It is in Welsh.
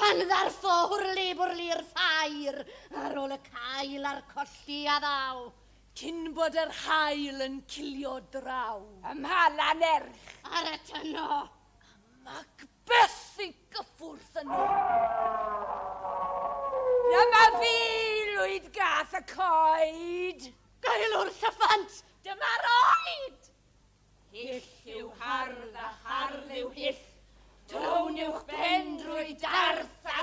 Pan ddarfo hwrli-bwrli'r ffair ar ôl y cael a'r colli a ddaw, cyn bod yr haul yn cilio draw. Ym mhala nerch. Ar y tyno. A Macbeth i gyffwrdd yno. Dyma fi, Lwyd Gath y Coed! Gaelwr Llyffant, dyma'r oed! Hyll yw hardd a hardd yw hyll. Down yw'ch ben drwy darth a